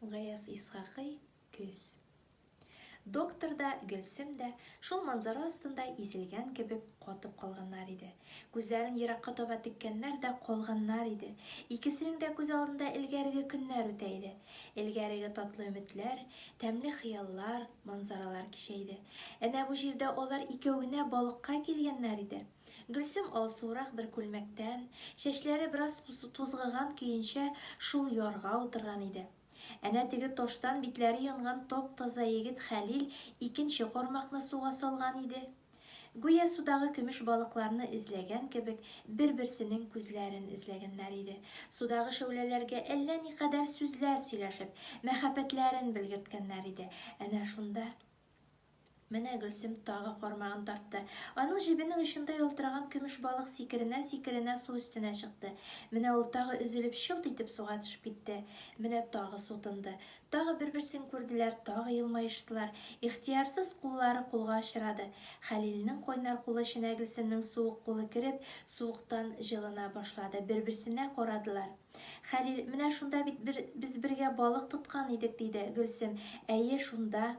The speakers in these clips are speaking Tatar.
Гаяз Исхакый, көз. Доктор да, Гөлсем дә шул манзара астында изелгән кебек катып калганнар иде. Күзләрен еракка таба теккәннәр дә калганнар иде. Икесенең дә күз алдында элгәреге көннәр үтә иде. Элгәреге татлы өметләр, тәмле хыяллар, манзаралар кичә иде. Әнә бу җирдә алар икәү генә балыкка килгәннәр иде. Гөлсем алсуырак бер күлмәктән, чәчләре бераз тузгыган көенчә шул ярга утырган иде. Әнә теге таштан битләре янган тап-таза егет Хәлил икенче кармакны суга салган иде. Гүя судагы көмеш балыкларны эзләгән кебек, бер-берсенең күзләрен эзләгәннәр иде. Судагы шәүләләргә әллә никадәр сүзләр сөйләшеп, мәхәббәтләрен белгерткәннәр иде. Әнә шунда. Менә Гөлсем тагы кармагын тартты. Аның җебенең очында ялтыраган көмеш балык сикеренә-сикеренә су өстенә чыкты. Менә ул тагы өзелеп чылт итеп суга төшеп китте. Менә тагы су тынды. Тагы бер-берсен күрделәр, тагы елмаештылар. Ихтыярсыз куллары кулга очрады. Хәлилнең кайнар кулы эченә Гөлсемнең суык кулы кереп, суыктан җылына башлады. Бер-берсенә карадылар. Хәлил, менә шунда бит бер, без бергә балык тоткан идек, диде. Гөлсем, әйе, шунда,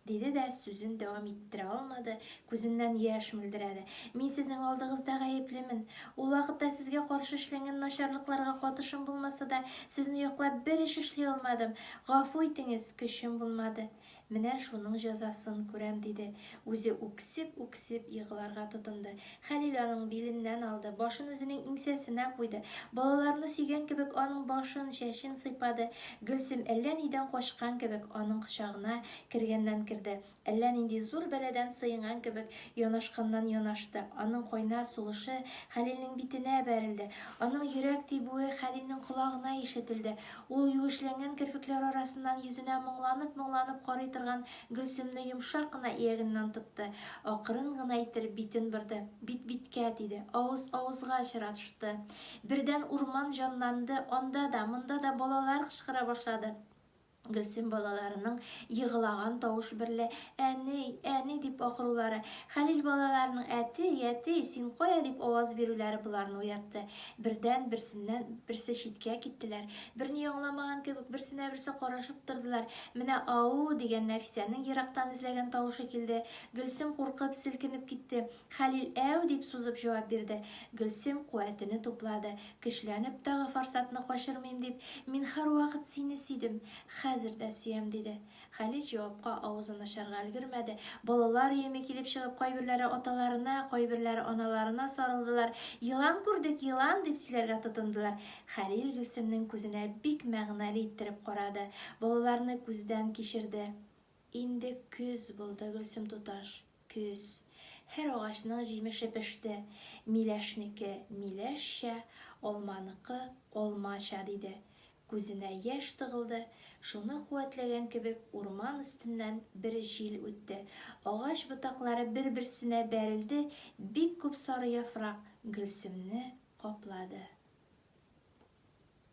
диде дә сүзен дәвам иттерә алмады, күзеннән яшь мөлдерәде. Мин сезнең алдыгызда гаеплемен. Ул вакытта сезгә каршы эшләнгән начарлыкларга катышым булмаса да, сезне яклап бер эш эшли алмадым. Гафу итеңез, көчем булмады. Менә шуның җәзасын күрәм, диде. Үзе үксеп-үксеп егларга тотынды. Хәлил аның биленнән алды, башын үзенең иңсәсенә куйды. Балаларны сөйгән кебек аның башын, чәчен сыйпады. Гөлсем әллә нидән качкан кебек аның кочагына кергәннән керде. Әллә нинди зур бәладән сыенган кебек янашканнан янашты. Аның кайнар сулышы Хәлилнең битенә бәрелде. Аның йөрәк тибүе Хәлилнең колагына ишетелде. Ул юешләнгән керфекләр арасыннан йөзенә моңланып-моңланып карый торган Гөлсемне йомшак кына иягеннән тотты. Акрын гына иттереп битен борды. Бит-биткә тиде. Авыз авызга очрашты. Бердән урман җанланды, анда да, монда да балалар кычкыра башлады. Гөлсем балаларының егылаган тавыш берлә әни, әни дип акырулары, Хәлил балаларының әти, әти, син кая дип аваз бирүләре боларны уятты. Бердән, берсеннән, берсе читкә киттеләр. Берни аңламаган кебек, берсенә берсе карашып тордылар. Менә а-у! дигән Нәфисәнең ерактан эзләгән тавышы килде. Гөлсем куркып, селкенеп китте. Хәлил әу! дип сузып җавап бирде. Гөлсем куәтене туплады. Көчләнеп, тагы форсатны качырмыйм дип, Мин һәрвакыт сине сөйдем. Хәзер дә сөям, диде. Хәлит җавапка авызын ачарга өлгермәде. Балалар өеме килеп чыгып, кайберләре аталарына, кайберләре аналарына сарылдылар. Елан күрдек, елан! дип сөйләргә тотындылар. Хәлил Гөлсемнең күзенә бик мәгънәле иттереп карады. Балаларны күздән кичерде. Инде көз булды, Гөлсем туташ, көз. Һәр агачның җимеше пеште. Миләшнеке, миләшчә, алманыкы, алмача, диде. Күзенә яшь тыгылды, шуны куәтләгән кебек урман өстеннән бер җил үтте, агач ботаклары бер-берсенә бәрелде, бик күп сары яфрак Гөлсемне каплады.